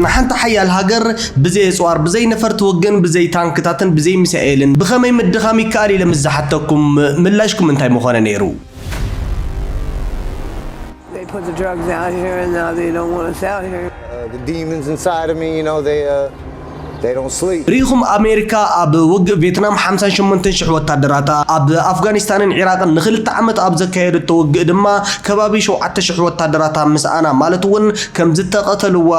ንሓንቲ ሓያል ሃገር ብዘይ ኣጽዋር፣ ብዘይ ነፈርቲ ወገን፣ ብዘይ ታንክታትን ብዘይ ሚሳኤልን ብኸመይ ምድኻም ይከኣል ኢለ ምስ ዝሓተኩም፣ ምላሽኩም እንታይ ምኾነ ነይሩ? ርኢኹም ኣሜሪካ ኣብ ውግእ ቬትናም ሓምሳን ሸሞንተን ሽሕ ወታደራታ፣ ኣብ ኣፍጋኒስታንን ዒራቕን ንኽልተ ዓመት ኣብ ዘካየደቶ ውግእ ድማ ከባቢ ሸውዓተ ሽሕ ወታደራታ ምስኣና ማለት እውን ከም ዝተቐተልዋ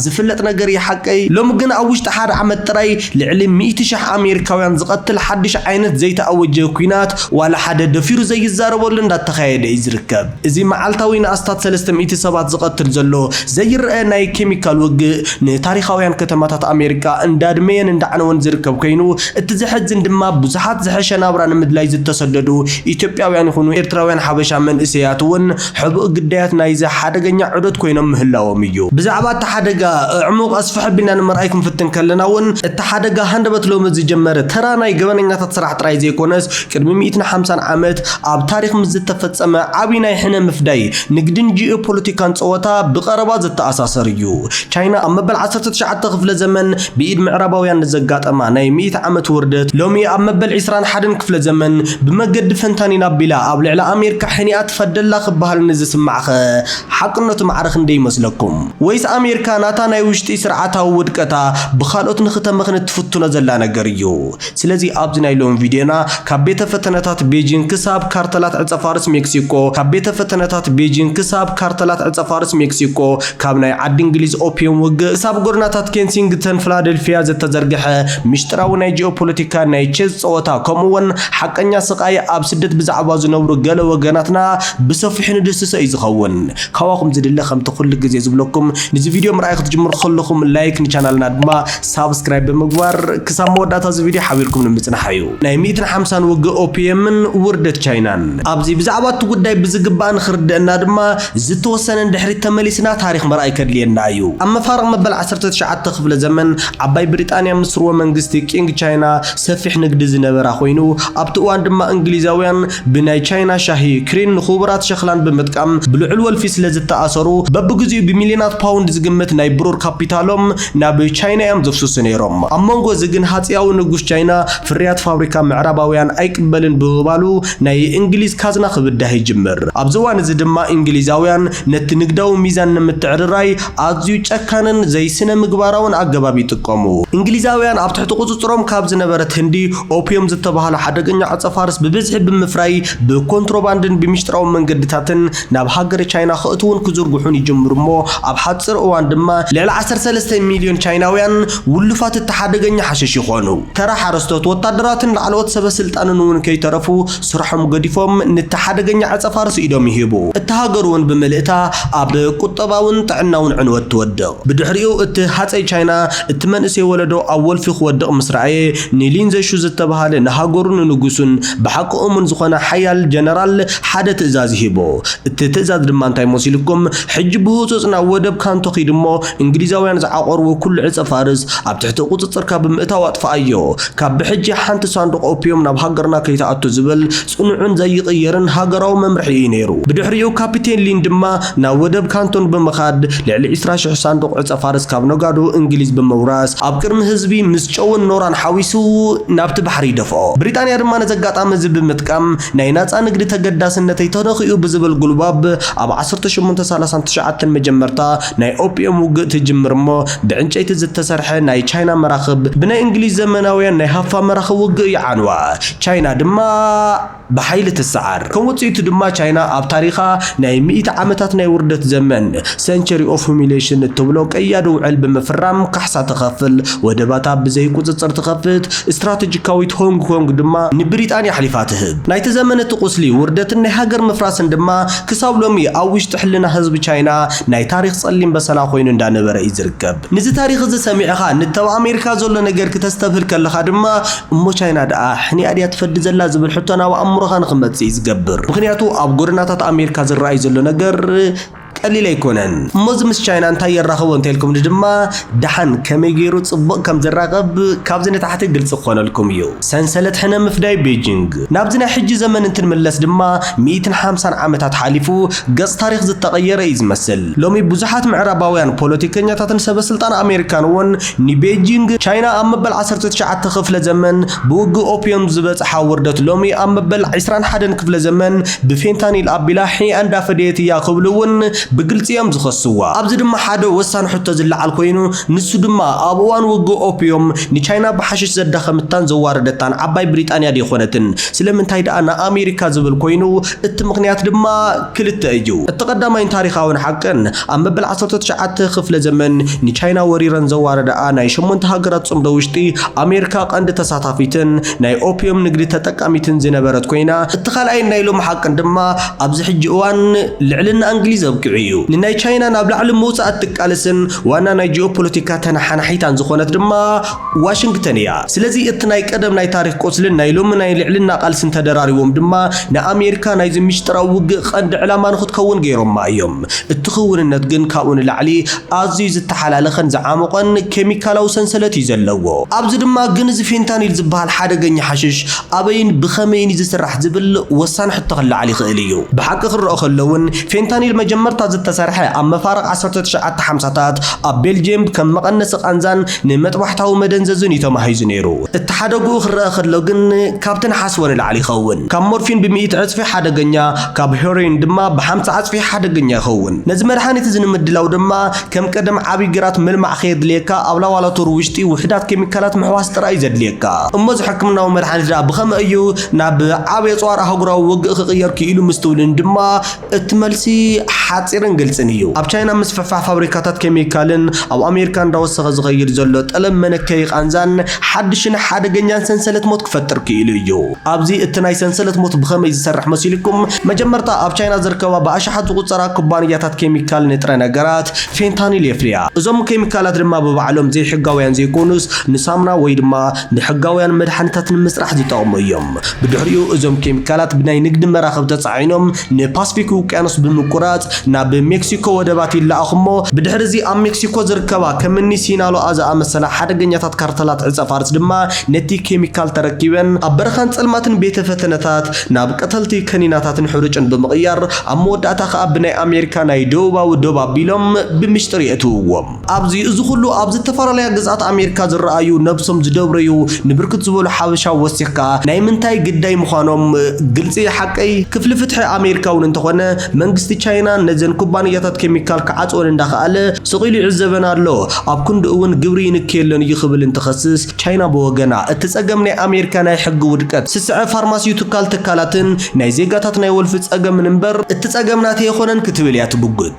ዝፍለጥ ነገር እዩ ሓቀይ። ሎሚ ግን ኣብ ውሽጢ ሓደ ዓመት ጥራይ ልዕሊ ሚእቲ ሽሕ ኣሜሪካውያን ዝቐትል ሓድሽ ዓይነት ዘይተኣወጀ ኲናት ዋላ ሓደ ደፊሩ ዘይዛረበሉ እንዳተኻየደ እዩ ዝርከብ። እዚ መዓልታዊ ንኣስታት ሰለስተ ሚእቲ ሰባት ዝቐትል ዘሎ ዘይረኣ ናይ ኬሚካል ውግእ፣ ንታሪኻውያን ከተማታት ኣሜሪካ እንዳድመየን እንዳዕነወን ዝርከብ ኮይኑ፣ እቲ ዘሕዝን ድማ ብዙሓት ዝሐሸ ናብራ ንምድላይ ዝተሰደዱ ኢትዮጵያውያን ይኹኑ ኤርትራውያን ሓበሻ መንእሰያት እውን ሕቡእ ግዳያት ናይዚ ሓደገኛ ዑደት ኮይኖም ምህላዎም እዩ። ብዛዕባ እቲ ሓደጋ ኣዕሙቕ ኣስፍሕ ኣቢልና ንምርኣይ ክንፍትን ከለና እውን፣ እቲ ሓደጋ ሃንደበት ሎሚ ዝጀመረ ተራ ናይ ገበነኛታት ስራሕ ጥራይ ዘይኮነስ፣ ቅድሚ ሚእትን ሓምሳን ዓመት ኣብ ታሪኽ ምስ ዝተፈጸመ ዓብዪ ናይ ሕነ ምፍዳይ ንግድን ጂኦፖለቲካን ጸወታ ብቐረባ ዘተኣሳሰር እዩ። ቻይና ኣብ መበል ዓሰርተ ትሽዓተ ክፍለ ዘመን ብኢድ ምዕራባውያን ንዘጋጠማ ናይ ሚእቲ ዓመት ውርደት ሎሚ ኣብ መበል ዕስራን ሓደን ክፍለ ዘመን ብመገዲ ፈንታኒን ኣቢላ ኣብ ልዕሊ ኣሜሪካ ሕኒኣ ትፈደላ ክበሃል ንዝስማዕኸ ሓቅነቱ ማዕረ ክንደይ ይመስለኩም? ወይስ ኣሜሪካ ናታ ናይ ውሽጢ ስርዓታዊ ውድቀታ ብኻልኦት ንክተመኽኒ እትፍትኖ ዘላ ነገር እዩ? ስለዚ ኣብዚ ናይ ሎሚ ቪድዮና ካብ ቤተ ፈተነታት ቤጂንግ ክሳብ ካርተላት ዕጸፋርስ ሜክሲኮ ካብ ቤተ ፈተነታት ቤጂንግ ክሳብ ካርተላት ዕጸፋርስ ሜክሲኮ ካብ ናይ ዓዲ እንግሊዝ ኦፒየም ውግእ ክሳብ ጎድናታት ኬንሲንግተን ፍላደልፊያ ዘተዘርግሐ ምሽጥራዊ ናይ ጂኦፖለቲካ ናይ ቼዝ ጸወታ ከምኡ ውን ሓቀኛ ስቃይ ኣብ ስደት ብዛዕባ ዝነብሩ ገለ ወገናትና ብሰፊሑ ንድህስሶ እዩ ዝኸውን ካባኹም ዝድለ ከምቲ ኩሉ ግዜ ዝብለኩም ንዚ ቪድዮ ምርኣይ ክትጅምሩ ከለኹም ላይክ ንቻናልና ድማ ሳብስክራይብ ብምግባር ክሳብ መወዳእታ እዚ ቪድዮ ሓቢርኩም ንምጽናሕ ኣዩ። ናይ ሚእትን ሓምሳን ውግእ ኦፒየምን ውርደት ቻይናን። ኣብዚ ብዛዕባ እቲ ጉዳይ ብዝግባእ ንኽርደእና ድማ ዝተወሰነ ንድሕሪት ተመሊስና ታሪኽ ምርኣይ ከድልየና ኣዩ። ኣብ መፋርቕ መበል ዓሰርተ ትሽዓተ ክፍለ ዘመን ዓባይ ብሪጣንያ ምስ ስርወ መንግስቲ ቂንግ ቻይና ሰፊሕ ንግዲ ዝነበራ ኮይኑ ኣብቲ እዋን ድማ እንግሊዛውያን ብናይ ቻይና ሻሂ፣ ክሪን ንክቡራት ሸኽላን ብምጥቃም ብልዑል ወልፊ ስለ ዝተኣሰሩ፣ በብግዚኡ ብሚልዮናት ፓውንድ ዝግመት ናይ ብሩር ካፒታሎም ናብ ቻይና እዮም ዘፍስሱ ነይሮም። ኣብ መንጎዚ ግን ሃጸያዊ ንጉስ ቻይና ፍርያት ፋብሪካ ምዕራባውያን ኣይቅበልን ብምባሉ ናይ እንግሊዝ ካዝና ክብዳህ ይጅምር። ኣብዚ እዋን'ዚ ድማ እንግሊዛውያን ነቲ ንግዳዊ ሚዛን ንምትዕርራይ፣ ኣዝዩ ጨካንን ዘይስነ-ምግባራውን ኣገባብ ይጥቀሙ። እንግሊዛውያን ኣብ ትሕቲ ቁጽጽሮም ካብ ዝነበረት ህንዲ፣ ኦፕዮም ዝተባህለ ሓደገኛ ዕጸ-ፋርስ ብብዝሒ ብምፍራይ፣ ብኮንትሮባንድን ብሚስጥራዊ መንገድታትን ናብ ሃገረ ቻይና ከእትዉን ክዝርግሑን ይጅምሩ እሞ ኣብ ሓጺር እዋን ድማ፣ ልዕሊ ዓሰርተ ሰለስተ ሚልዮን ቻይናውያን ውሉፋት እቲ ሓደገኛ ሓሽሽ ይኾኑ። ተራ ሓረስቶት፣ ወታደራትን ላዕለዎት ሰበ-ስልጣንን እውን ከይተረፉ ስርሖም ገዲፎም ንቲ ሓደገኛ ዕጸፋርስ ኢዶም ይህቡ። እታ ሃገር'ውን ብምልእታ ኣብ ቁጠባውን ጥዕናውን ዕንወት ትወድቕ። ብድሕሪኡ እቲ ሃጸይ ቻይና እቲ መንእሰይ ወለዶ ኣብ ወልፊ ክወድቕ ምስ ረኣየ፣ ንሊን ዘሹ ዝተበሃለ ንሃገሩን ንንጉሱን ብሓቂ እሙን ዝኾነ ሓያል ጀነራል ሓደ ትእዛዝ ይህቦ። እቲ ትእዛዝ ድማ እንታይ መሲሉኩም? ሕጂ ብህጹጽ ናብ ወደብ ካንቶ ኪድ'ሞ፣ እንግሊዛውያን ዝዓቖርዎ ኩሉ ዕጸ ፋርስ ኣብ ትሕቲ ቁጽጽርካ ብምእታው ኣጥፍኣዮ። ካብ ብሕጂ ሓንቲ ሳንዱቕ ኦፕዮም ናብ ሃገርና ከይትኣቱ ዝብል ጽኑዕን ዘይቕየርን ሃገራዊ መምርሒ እዩ ነይሩ። ብድሕሪኡ ካፒቴን ሊን ድማ ናብ ወደብ ካንቶን ብምኻድ ልዕሊ ዕስራ ሽሕ ሳንዱቕ ዕጸ ፋርስ ካብ ነጋዶ እንግሊዝ ብምውራስ ኣብ ቅድሚ ህዝቢ ምስ ጨውን ኖራን ሓዊሱ ናብቲ ባሕሪ ይደፍኦ። ብሪጣንያ ድማ ነዚ ኣጋጣሚ እዚ ብምጥቃም ናይ ናጻ ንግዲ ተገዳስነተይ ተነኺኡ ብዝብል ጉልባብ ኣብ ዓሰርተ ሸሞንተ ሳላሳን ትሽዓተን መጀመርታ ናይ ኦጲየም ውግእ ትጅምር እሞ ብዕንጨይቲ ዝተሰርሐ ናይ ቻይና መራኽብ ብናይ እንግሊዝ ዘመናውያን ናይ ሃፋ መራኽብ ውግእ ይዓንዋ። ቻይና ድማ ብሓይሊ ትሰዓር። ከም ውጽኢቱ ድማ ቻይና ኣብ ታሪኻ ናይ ሚእቲ ዓመታት ናይ ውርደት ዘመን፣ Century of Humiliation፣ እትብሎ ቀያዲ ውዕል ብምፍራም ካሕሳ ትኸፍል፣ ወደባታ ብዘይ ቁጽጽር ትኸፍት፣ ስትራተጂካዊት ሆንግ ኮንግ ድማ ንብሪጣንያ ኣሕሊፋ ትህብ። ናይቲ ዘመን እቲ ቁስሊ ውርደትን ናይ ሃገር ምፍራስን ድማ ክሳብ ሎሚ ኣብ ውሽጢ ሕልና ህዝቢ ቻይና ናይ ታሪኽ ጸሊም በሰላ ኮይኑ እንዳ ነበረ እዩ ዝርከብ። ንዚ ታሪኽ እዚ ሰሚዕኻ ንቲ ኣብ ኣሜሪካ ዘሎ ነገር ክተስተብህል ከለኻ ድማ እሞ ቻይና ደኣ ሕኒኣ ድያ ትፈዲ ዘላ ዝብል ሕቶ ናብ ኣእምሮኻ ንኽመጽእ እዩ ዝገብር። ምኽንያቱ ኣብ ጎደናታት ኣሜሪካ ዝረኣይ ዘሎ ነገር ቀሊል ኣይኮነን። እሞ እዚ ምስ ቻይና እንታይ የራኽቦ እንተልኩምኒ ድማ ደሓን ከመይ ገይሩ ጽቡቕ ከም ዝራኸብ ካብዚ ንታሕቲ ግልጺ ክኾነልኩም እዩ። ሰንሰለት ሕነ ምፍዳይ ቤጂንግ። ናብዚ ናይ ሕጂ ዘመን እንትንምለስ ድማ ሚእትን ሓምሳን ዓመታት ሓሊፉ፣ ገጽ ታሪኽ ዝተቐየረ እዩ ዝመስል። ሎሚ ብዙሓት ምዕራባውያን ፖለቲከኛታትን ሰበስልጣን ኣሜሪካን እውን ንቤጂንግ፣ ቻይና ኣብ መበል ዓሰርተ ትሽዓተ ክፍለ ዘመን ብውግእ ኦፕዮም ዝበጽሓ ውርደት ሎሚ ኣብ መበል ዕስራን ሓደን ክፍለ ዘመን ብፌንታኒል ኣቢላ ሒኣ እንዳፈደየት እያ ክብሉ እውን ብግልጺ እዮም ዝኸስዋ። ኣብዚ ድማ ሓደ ወሳኒ ሕቶ ዝለዓል ኮይኑ ንሱ ድማ ኣብ እዋን ውግእ ኦፕዮም ንቻይና ብሓሽሽ ዘዳኸምታን ዘዋረደታን ዓባይ ብሪጣንያ ደይኮነትን? ስለምንታይ ደኣ ንኣሜሪካ ዝብል ኮይኑ እቲ ምኽንያት ድማ ክልተ እዩ። እቲ ቀዳማይን ታሪኻውን ሓቅን፣ ኣብ መበል ዓሰርተ ትሽዓተ ክፍለ ዘመን ንቻይና ወሪረን ዘዋረዳኣ ናይ ሸሞንተ ሃገራት ጽምዶ ውሽጢ፣ ኣሜርካ ቀንዲ ተሳታፊትን ናይ ኦፕዩም ንግዲ ተጠቃሚትን ዝነበረት ኮይና፣ እቲ ካልኣይን ናይ ሎሚ ሓቅን ድማ ኣብዚ ሕጂ እዋን ልዕልና እንግሊዝ ኣብቂዑ እዩ። ንናይ ቻይና ናብ ላዕሊ ምውጻእ እትቃለስን ዋና ናይ ጂኦፖለቲካ ተነሓናሒታን ዝኾነት ድማ፣ ዋሽንግተን እያ። ስለዚ እቲ ናይ ቀደም ናይ ታሪኽ ቁስልን ናይ ሎሚ ናይ ልዕልና ቃልስን ተደራሪቦም ድማ ንኣሜሪካ ናይዚ ምሽጥራዊ ውግእ ቐንዲ ዕላማ ንኽትከውን ገይሮማ እዮም። እቲ ክውንነት ግን ካብኡ ንላዕሊ ኣዝዩ ዝተሓላለኸን ዝዓሞቐን ኬሚካላዊ ሰንሰለት እዩ ዘለዎ። ኣብዚ ድማ ግን እዚ ፌንታኒል ዝበሃል ሓደገኛ ሓሽሽ ኣበይን ብኸመይን እዩ ዝስራሕ ዝብል ወሳኒ ሕቶ ክለዓል ይኽእል እዩ። ብሓቂ ክረኦ ከሎ እውን ፌንታኒል መጀመርታ ዝተሰርሐ ኣብ መፋርቕ ዓሰርተ ትሽዓተ ሓምሳታት ኣብ ቤልጂየም ከም መቐነሲ ቓንዛን ንመጥባሕታዊ መደንዘዝን እዩ ተማሂዙ ነይሩ። እቲ ሓደግኡ ክረኣ ከሎ ግን ካብቲ ንሓስቦ ንላዕሊ ይኸውን። ካብ ሞርፊን ብሚእቲ ዕጽፊ ሓደገኛ፣ ካብ ሄሮይን ድማ ብሓምሳ ዕጽፊ ሓደገኛ ይኸውን። ነዚ መድሃኒት እዚ ንምድላው ድማ ከም ቀደም ዓቢ ግራት ምልማዕ ከየድልየካ ኣብ ላባላቶሪ ውሽጢ ውሑዳት ኬሚካላት ምሕዋስ ጥራይ እዩ ዘድልየካ። እሞ እዚ ሕክምናዊ መድሃኒት ደኣ ብኸመይ እዩ ናብ ዓቢ ኣጽዋር ኣህጉራዊ ውግእ ክቕየር ክኢሉ ምስትውልን ድማ እቲ መልሲ ሓጺርን ግልጽን እዩ። ኣብ ቻይና ምስፍሕፋሕ ፋብሪካታት ኬሚካልን ኣብ ኣሜሪካ እንዳወሰኸ ዝኸይድ ዘሎ ጠለብ መነከዪ ቃንዛን ሓድሽን ሓደገኛን ሰንሰለት ሞት ክፈጥር ክኢሉ እዩ። ኣብዚ እቲ ናይ ሰንሰለት ሞት ብኸመይ ዝሰርሕ መሲሉኩም፣ መጀመርታ ኣብ ቻይና ዝርከባ ብኣሽሓት ዝቑጸራ ኩባንያታት ኬሚካል ንጥረ ነገራት ፌንታኒል የፍርያ። እዞም ኬሚካላት ድማ ብባዕሎም ዘይሕጋውያን ዘይኮኑስ ንሳሙና ወይ ድማ ንሕጋውያን መድሓኒታት ንምስራሕ ዝጠቕሙ እዮም። ብድሕሪኡ እዞም ኬሚካላት ብናይ ንግዲ መራኽብ ተጻዒኖም ንፓስፊክ ውቅያኖስ ብምቁራጽ ናብ ሜክሲኮ ወደባት ይለኣኹ እሞ ብድሕሪ እዚ ኣብ ሜክሲኮ ዝርከባ ከምኒ ሲናሎኣ ዝኣመሰላ ሓደገኛታት ካርተላት ዕጸፋርስ ድማ ነቲ ኬሚካል ተረኪበን ኣብ በረኻን ጸልማትን ቤተ ፈተነታት ናብ ቀተልቲ ከኒናታትን ሕሩጭን ብምቕያር ኣብ መወዳእታ ከኣ ብናይ ኣሜሪካ ናይ ደቡባዊ ዶብ ኣቢሎም ብምሽጥር የእትውዎ። ኣብዚ እዚ ኩሉ ኣብ ዝተፈላለያ ግዝኣት ኣሜሪካ ዝረኣዩ ነብሶም ዝደብረዩ ንብርክት ዝበሉ ሓበሻ ወሲኽካ ናይ ምንታይ ግዳይ ምዃኖም ግልፂ እዩ ሓቀይ? ክፍሊ ፍትሒ ኣሜሪካ እውን እንተኾነ መንግስቲ ቻይና ነዘን ኩባንያታት ኬሚካል ክዓፅወን እንዳኸኣለ ስቕ ኢሉ ይዕዘበን ኣሎ ኣብ ክንድኡ እውን ግብሪ ይንከየለን እዩ ክብል እንትኸስስ ቻይና ብወገና እቲ ፀገም ናይ ኣሜሪካ ናይ ሕጊ ውድቀት ስስዐ ፋርማሲዩትካል ትካላትን ናይ ዜጋታት ናይ ወልፊ ፀገምን እምበር እቲ ፀገም ናተይ ኣይኾነን ክትብል እያ ትምጉት።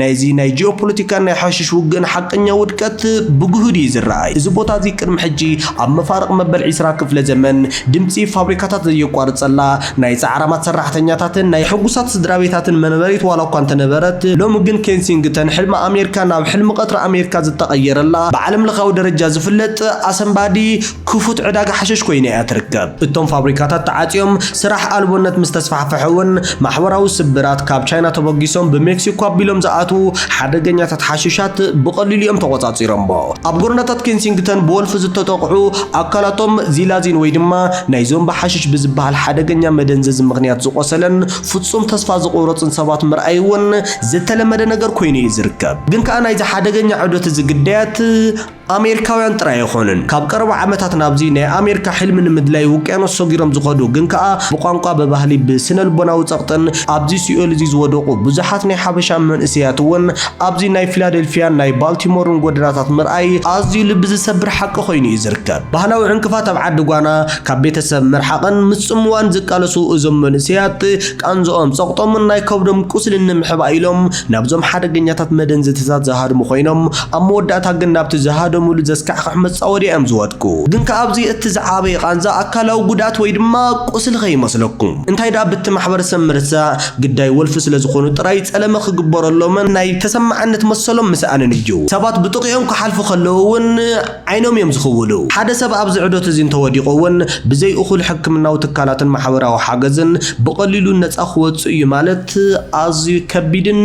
ናይዚ ናይ ጂኦፖለቲካን ናይ ሓሽሽ ውግእን ሓቀኛ ውድቀት ብግሁድ እዩ ዝረኣይ። እዚ ቦታ እዚ ቅድሚ ሕጂ ኣብ መፋርቕ መበል ዕስራ ክፍለ ዘመን ድምጺ ፋብሪካታት ዘየቋርጸላ፣ ናይ ጻዕራማት ሰራሕተኛታትን ናይ ሕጉሳት ስድራቤታትን መነበሪት ዋላ እኳ እንተነበረት፣ ሎሚ ግን ኬንሲንግተን ሕልሚ ኣሜርካ ናብ ሕልሚ ቀትሪ ኣሜርካ ዝተቐየረላ ብዓለምለኻዊ ደረጃ ዝፍለጥ ኣሰንባዲ ክፉት ዕዳጋ ሓሽሽ ኮይና እያ ትርከብ። እቶም ፋብሪካታት ተዓጽዮም፣ ስራሕ ኣልቦነት ምስ ተስፋሕፈሐ እውን ማሕበራዊ ስብራት ካብ ቻይና ተበጊሶም ብሜክሲኮ ኣቢሎም ዝኣትዉ ሓደገኛታት ሓሽሻት ብቐሊሉ እዮም ተቖጻጺሮሞ። ኣብ ጎደናታት ኬንሲንግተን ብወልፊ ዝተጠቕዑ ኣካላቶም ዚላዚን ወይ ድማ ናይ ዞምቢ ሓሽሽ ብዝበሃል ሓደገኛ መደንዘዚ ምኽንያት ዝቖሰለን ፍጹም ተስፋ ዝቑረጽን ሰባት ምርኣይ እውን ዝተለመደ ነገር ኮይኑ እዩ ዝርከብ። ግን ከኣ ናይዚ ሓደገኛ ዑደት እዚ ግዳያት ኣሜሪካውያን ጥራይ ኣይኮኑን ካብ ቀረባ ዓመታት ናብዚ ናይ ኣሜሪካ ሕልሚ ንምድላይ ውቅያኖስ ሰጊሮም ዝኸዱ ግን ከኣ ብቋንቋ ብባህሊ ብስነልቦናዊ ጸቕጥን ኣብዚ ሲኦል እዚ ዝወደቑ ብዙሓት ናይ ሓበሻ መንእሰያት እውን ኣብዚ ናይ ፊላደልፊያን ናይ ባልቲሞርን ጎደናታት ምርኣይ ኣዝዩ ልቢ ዝሰብር ሓቂ ኮይኑ እዩ ዝርከብ። ባህላዊ ዕንቅፋት ኣብ ዓዲ ጓና ካብ ቤተሰብ ምርሓቕን ምጽምዋን ዝቃለሱ እዞም መንእሰያት ቃንዝኦም ጸቕጦምን ናይ ከብዶም ቁስሊ ንምሕባእ ኢሎም ናብዞም ሓደገኛታት መደንዘቲታት ዝሃድሙ ኮይኖም ኣብ መወዳእታ ግን ናብቲ ዝሃደሙሉ ዘስካሕኽሕ መጻወድያ እዮም ዝወድቁ። ግን ከኣ ኣብዚ እቲ ዝዓበየ ቃንዛ ኣካላዊ ጉድኣት ወይ ድማ ቁስሊ ከይመስለኩም። እንታይ ደኣ ብቲ ማሕበረሰብ ምርሳዕ፣ ግዳይ ወልፊ ስለ ዝኾኑ ጥራይ ጸለመ ክግበረሎምን ናይ ተሰማዕነት መሰሎም ምስኣንን እዩ። ሰባት ብጥቕኦም ክሓልፉ ከለዉ እውን፣ ዓይኖም እዮም ዝኽውሉ። ሓደ ሰብ ኣብዚ ዑደት እዚ እንተወዲቑ እውን ብዘይ እኹል ሕክምናዊ ትካላትን ማሕበራዊ ሓገዝን ብቐሊሉ ነጻ ክወጽእ እዩ ማለት ኣዝዩ ከቢድን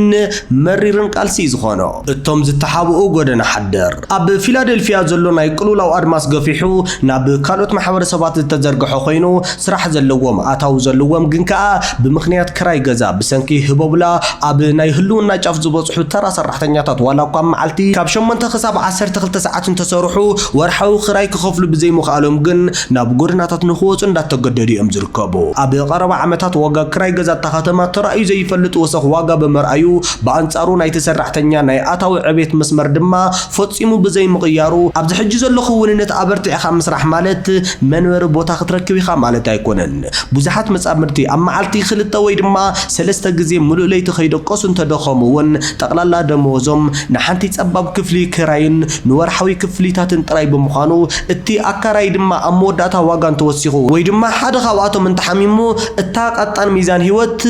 መሪርን ቃልሲ እዩ ዝኾኖ። እቶም ዝተሓብኡ ጎደና ሓደር ኣብ ፊላደልፊያ ዘሎ ናይ ቅልውላው ኣድማስ ገፊሑ ናብ ካልኦት ማሕበረሰባት ዝተዘርግሐ ኮይኑ፣ ስራሕ ዘለዎም ኣታዊ ዘለዎም ግን ከኣ ብምኽንያት ክራይ ገዛ ብሰንኪ ህቦብላ ኣብ ናይ ህልውና ጫፍ ዝበጽሑ ተራ ሰራሕተኛታት ዋላ እኳ ኣብ መዓልቲ ካብ ሸሞንተ ክሳብ ዓሰርተ ክልተ ሰዓት እንተሰርሑ ወርሓዊ ክራይ ክኸፍሉ ብዘይምኽኣሎም ግን ናብ ጎደናታት ንኽወጹ እንዳተገደዱ እዮም ዝርከቡ። ኣብ ቀረባ ዓመታት ዋጋ ክራይ ገዛ እታ ከተማ ተራእዩ ዘይፈልጥ ወሰኽ ዋጋ ብምርኣዩ ብኣንጻሩ ናይቲ ሰራሕተኛ ናይ ኣታዊ ዕብየት መስመር ድማ ፈጺሙ ብዘይምቕያሩ ኣብዚ ሕጂ ዘሎ ክውንነት ኣበርቲዕኻ ምስራሕ ማለት መንበሪ ቦታ ክትረክብ ኢኻ ማለት ኣይኮነን። ብዙሓት መጻምድቲ ኣብ መዓልቲ ክልተ ወይ ድማ ሰለስተ ግዜ ምሉእ ለይቲ ከይደቀሱ እንተደኸሙ'ውን ጠቕላላ ደመወዞም ንሓንቲ ጸባብ ክፍሊ ክራይን ንወርሓዊ ክፍሊታትን ጥራይ ብምዃኑ እቲ ኣካራዪ ድማ ኣብ መወዳእታ ዋጋ እንተወሲኹ ወይ ድማ ሓደ ካብኣቶም እንተሓሚሙ እታ ቀጣን ሚዛን ህይወት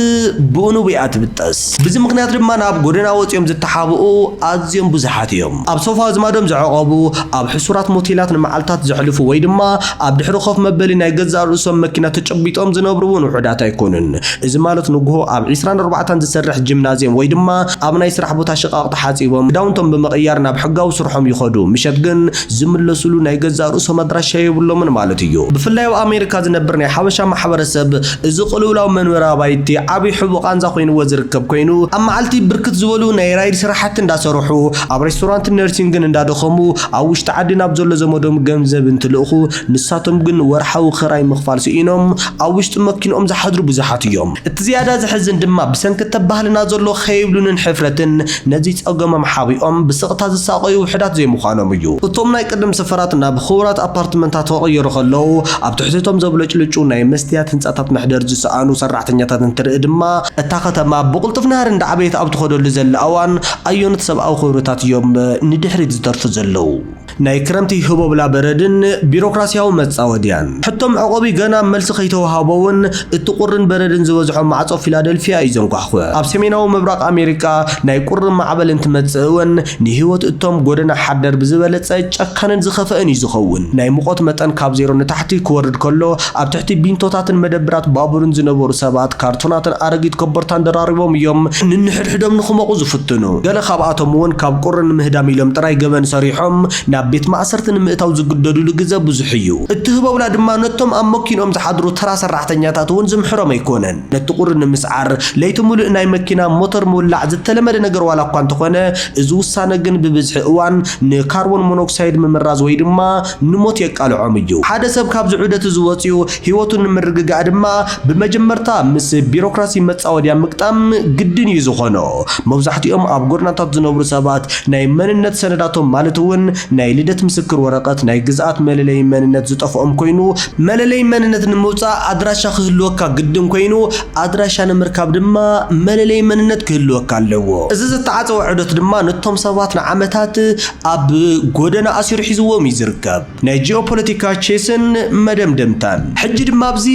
ብኡንብኡ'ያ ትብጠስ። ብዚ ምኽንያት ድማ ናብ ጎደና ወጺኦም ዝተሓብኡ ኣዝዮም ብዙሓት እዮም። ኣብ ሶፋ ኣዝማዶም ዘዕቖቡ፣ ኣብ ሕሱራት ሞቴላት ንመዓልታት ዘሕልፉ ወይ ድማ ኣብ ድሕሪ ኮፍ መበሊ ናይ ገዛእ ርእሶም መኪና ተጨቢጦም ዝነብሩ እውን ውሑዳት ኣይኮኑን። እዚ ማለት ንጉሆ ኣብ ዒስራን ኣርባዕተን ዝሰርሕ ጂምናዝየም ወይ ድማ ኣብ ናይ ስራሕ ቦታ ሽቓቕ ተሓጺቦም ክዳውንቶም ብምቕያር ናብ ሕጋዊ ስርሖም ይኸዱ ምሸት ግን ዝምለሱሉ ናይ ገዛእ ርእሶም ኣድራሻ የብሎምን ማለት እዩ። ብፍላይ ኣብ ኣሜሪካ ዝነብር ናይ ሓበሻ ማሕበረሰብ እዚ ቅልውላው መንበሪ ኣባይቲ ዓቢ ሕቡእ ቃንዛ ኮይንዎ ዝርከብ ኮይኑ፣ ኣብ መዓልቲ ብርክት ዝበሉ ናይ ራይድ ስራሕቲ እንዳሰርሑ፣ ኣብ ሬስቶራንትን ነርሲንግን እንዳደኸሙ ኣብ ውሽጢ ዓዲ ናብ ዘሎ ዘመዶም ገንዘብ እንትልእኹ፣ ንሳቶም ግን ወርሓዊ ክራይ ምኽፋል ስኢኖም ኣብ ውሽጢ መኪንኦም ዝሓድሩ ብዙሓት እዮም። እቲ ዝያዳ ዘሕዝን ድማ ብሰንኪ ተባህልና ዘሎ ከይብሉንን ሕፍረትን፣ ነዚ ጸገሞም ሓቢኦም ብስቕታ ዝሳቐዩ ውሑዳት ዘይምዃኖም እዩ። እቶም ናይ ቅድም ሰፈራት ናብ ኽቡራት ኣፓርትመንታት ክቕየሩ ከለዉ፣ ኣብ ትሕቲ'ቶም ዘብለጭልጩ ናይ መስትያት ህንጻታት መሕደሪ ዝሰኣኑ ሰራሕተኛታት እንትርኢ ድማ፣ እታ ከተማ ብቕልጡፍ ናህሪ እንዳዓበየት ኣብ ትኸደሉ ዘላ እዋን፣ ኣየኖት ሰብኣዊ ክብርታት እዮም ንድሕሪት ዝተርፉ ዘለዉ? ናይ ክረምቲ ህቦብላ በረድን ቢሮክራስያዊ መጻወድያን። ሕቶ መዕቆቢ ገና መልሲ ከይተወሃቦ'ውን እቲ ቁርን በረድን ዝበዝሖ ማዕጾ ፊላደልፍያ እዩ ዘንኳሕኩሕ። ኣብ ሰሜናዊ ምብራቕ ኣሜሪካ ናይ ቁሪ ማዕበል እንትመጽእ'ውን ንህይወት እቶም ጎደና ሓደር ብዝበለጸ ጨካንን ዝኸፈእን እዩ ዝኸውን። ናይ ሙቐት መጠን ካብ ዜሮ ንታሕቲ ክወርድ ከሎ ኣብ ትሕቲ ቢንቶታትን መደብራት ባቡርን ዝነበሩ ሰባት ካርቶናትን ኣረጊት ኮቦርታን ደራሪቦም እዮም ንንሕድሕዶም ድሕዶም ንክሞቑ ዝፍትኑ፣ ገለ ካብኣቶም እውን ካብ ቁሪ ንምህዳም ኢሎም ጥራይ ገበን ሰሪሖም ናብ ቤት ማእሰርቲ ንምእታው ዝግደዱሉ ግዘ ብዙሕ እዩ። እትህበውላ ድማ ነቶም ኣብ መኪንኦም ዝሓድሩ ተራ ሰራሕተኛታት እውን ዝምሕሮም ኣይኮነን። ነቲ ቁሪ ንምስዓር ለይቲ ሙሉእ ናይ መኪና ሞተር ምውላዕ ዝተለመደ ነገር ዋላ እኳ እንተኾነ እዚ ውሳነ ግን ብብዝሒ እዋን ንካርቦን ሞኖክሳይድ ምምራዝ ወይ ድማ ንሞት የቃልዖም እዩ። ሓደ ሰብ ካብዚ ዑደት እዚ ወጺኡ ህይወቱ ንምርግጋእ ድማ ብመጀመርታ ምስ ቢሮክራሲ መጻወድያ ምግጣም ግድን እዩ ዝኾኖ። መብዛሕትኦም ኣብ ጎደናታት ዝነብሩ ሰባት ናይ መንነት ሰነዳቶም ማለት እውን ናይ ልደት ምስክር ወረቐት፣ ናይ ግዝኣት መለለዪ መንነት ዝጠፍኦም ኮይኑ፣ መለለዪ መንነት ንምውጻእ ኣድራሻ ክህልወካ ግድን ኮይኑ፣ ኣድራሻ ንምርካብ ድማ መለለዪ መንነት ክህልወካ ኣለዎ። እዚ ዝተዓጸወ ዑደት ድማ ነቶም ሰባት ንዓመታት ኣብ ጎደና ኣሲሩ ሒዝዎም እዩ ዝርከብ። ናይ ጂኦፖለቲካ ቼስን መደምደምታን። ሕጂ ድማ ኣብዚ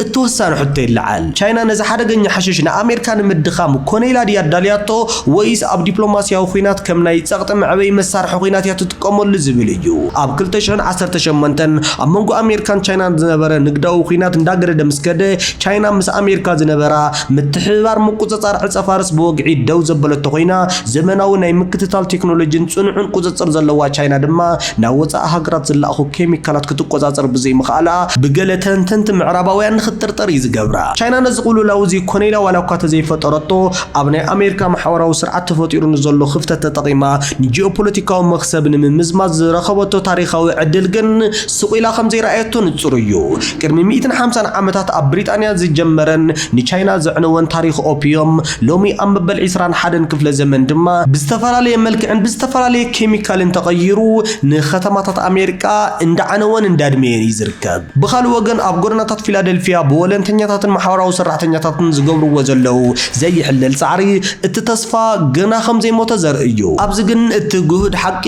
እተወሳኒ ሕቶ ይለዓል፣ ቻይና ነዚ ሓደገኛ ሓሽሽ ንኣሜርካ ንምድኻም ኮነ ኢላ ድያ ኣዳልያቶ ወይስ ኣብ ዲፕሎማስያዊ ኲናት ከም ናይ ጸቕጢ መዕበዪ መሳርሒ ኲናት እያ ክጥቀመሉ ዝብል እዩ። ኣብ ክልተ ሽሕን ዓሰርተ ሸሞንተን ኣብ መንጎ ኣሜሪካን ቻይናን ዝነበረ ንግዳዊ ኹናት እንዳገደደ ምስ ከደ ቻይና ምስ ኣሜሪካ ዝነበራ ምትሕብባር ምቁጽጻር ዕጸፋርስ ብወግዒ ደው ዘበለቶ ኾይና ዘመናዊ ናይ ምክትታል ቴክኖሎጂን ጽኑዕን ቁጽጽር ዘለዋ ቻይና ድማ ናብ ወጻኢ ሃገራት ዝላኣኹ ኬሚካላት ክትቆጻጸር ብዘይምኽኣላ ብገለ ተንተንቲ ምዕራባውያን ንኽትጥርጠር እዩ ዝገብራ። ቻይና ነዚ ቅልውላው እዚ ኮነ ኢላ ዋላኳ ተዘይፈጠረቶ ኣብ ናይ ኣሜሪካ ማሕበራዊ ስርዓት ተፈጢሩ ንዘሎ ክፍተት ተጠቒማ ንጂኦፖለቲካዊ መኽሰብ ንምምዝማዝ ዝረኸበቶ ታሪኻዊ ዕድል ግን ስቕ ኢላ ከም ዘይረኣየቶ ንጹር እዩ። ቅድሚ ሚእትን ሓምሳን ዓመታት ኣብ ብሪጣንያ ዝጀመረን ንቻይና ዘዕነወን ታሪኽ ኦፒዩም፣ ሎሚ ኣብ መበል ዕስራን ሓደን ክፍለ ዘመን ድማ፣ ብዝተፈላለየ መልክዕን ብዝተፈላለየ ኬሚካልን ተቐይሩ ንከተማታት ኣሜሪቃ እንዳዓነወን እንዳድመየን እዩ ዝርከብ። ብኻልእ ወገን ኣብ ጎደናታት ፊላደልፊያ ብወለንተኛታትን ማሕበራዊ ሰራሕተኛታትን ዝገብርዎ ዘለዉ ዘይሕለል ጻዕሪ እቲ ተስፋ ገና ከም ዘይሞተ ዘርኢ እዩ። ኣብዚ ግን እቲ ግሁድ ሓቂ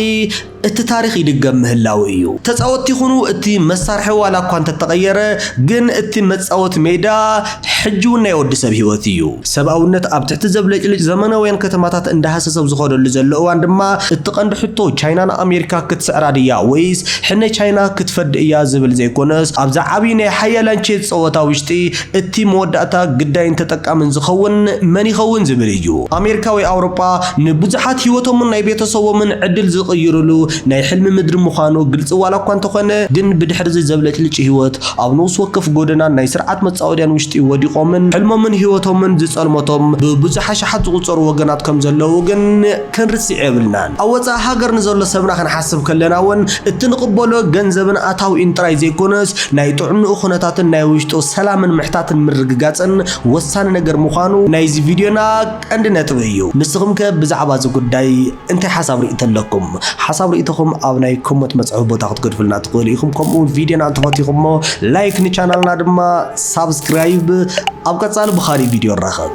እቲ ታሪኽ ይድገም ምህላዉ እዩ። ተጻወትቲ ይኹኑ እቲ መሳርሒ ዋላ እኳ እንተተቐየረ ግን እቲ መጻወቲ ሜዳ ሕጂ ውን ናይ ወዲ ሰብ ህይወት እዩ። ሰብኣውነት ኣብ ትሕቲ ዘብለጭልጭ ዘመናውያን ከተማታት እንዳሃሰሰ ኣብ ዝኸደሉ ዘሎ እዋን ድማ እቲ ቀንዲ ሕቶ ቻይና ንኣሜሪካ ክትስዕራ ድያ ወይስ ሕነ ቻይና ክትፈዲ እያ ዝብል ዘይኮነስ ኣብዚ ዓብይ ናይ ሓያላን ቼዝ ጸወታ ውሽጢ እቲ መወዳእታ ግዳይን ተጠቃምን ዝኸውን መን ይኸውን ዝብል እዩ። ኣሜሪካ ወይ ኣውሮጳ ንብዙሓት ህይወቶምን ናይ ቤተሰቦምን ዕድል ዝቕይርሉ ናይ ሕልሚ ምድሪ ምዃኑ ግልጺ ዋላ እኳ እንተኾነ ግን ብድሕሪ እዚ ዘብለጭልጭ ህይወት ኣብ ነውሲ ወከፍ ጎደናን ናይ ስርዓት መጻወድያን ውሽጢ ወዲቖምን ሕልሞምን ህይወቶምን ዝጸልመቶም ብብዙሕ ኣሽሓት ዝቑጸሩ ወገናት ከም ዘለዉ ግን ክንርስዕ የብልናን። ኣብ ወጻኢ ሃገር ንዘሎ ሰብና ክንሓስብ ከለና እውን እቲ ንቕበሎ ገንዘብን ኣታዊኡን ጥራይ ዘይኮነስ ናይ ጥዕንኡ ኩነታትን ናይ ውሽጡ ሰላምን ምሕታትን ምርግጋጽን ወሳኒ ነገር ምዃኑ ናይዚ ቪድዮና ቀንዲ ነጥቢ እዩ። ንስኹም ከ ብዛዕባ እዚ ጉዳይ እንታይ ሓሳብ ሪኢቶ ኣለኩም? ሓሳብ ሪኢቶኹም ኣብ ናይ ኮሞት መፅሐፊ ቦታ ክትገድፉልና ትኽእሉ ኢኹም ከምኡ እውን ቪድዮና እንተፈቲኹሞ ላይክ ንቻናልና ድማ ሳብስክራይብ ኣብ ቀፃሊ ብኻሊእ ቪድዮ ንራኸብ።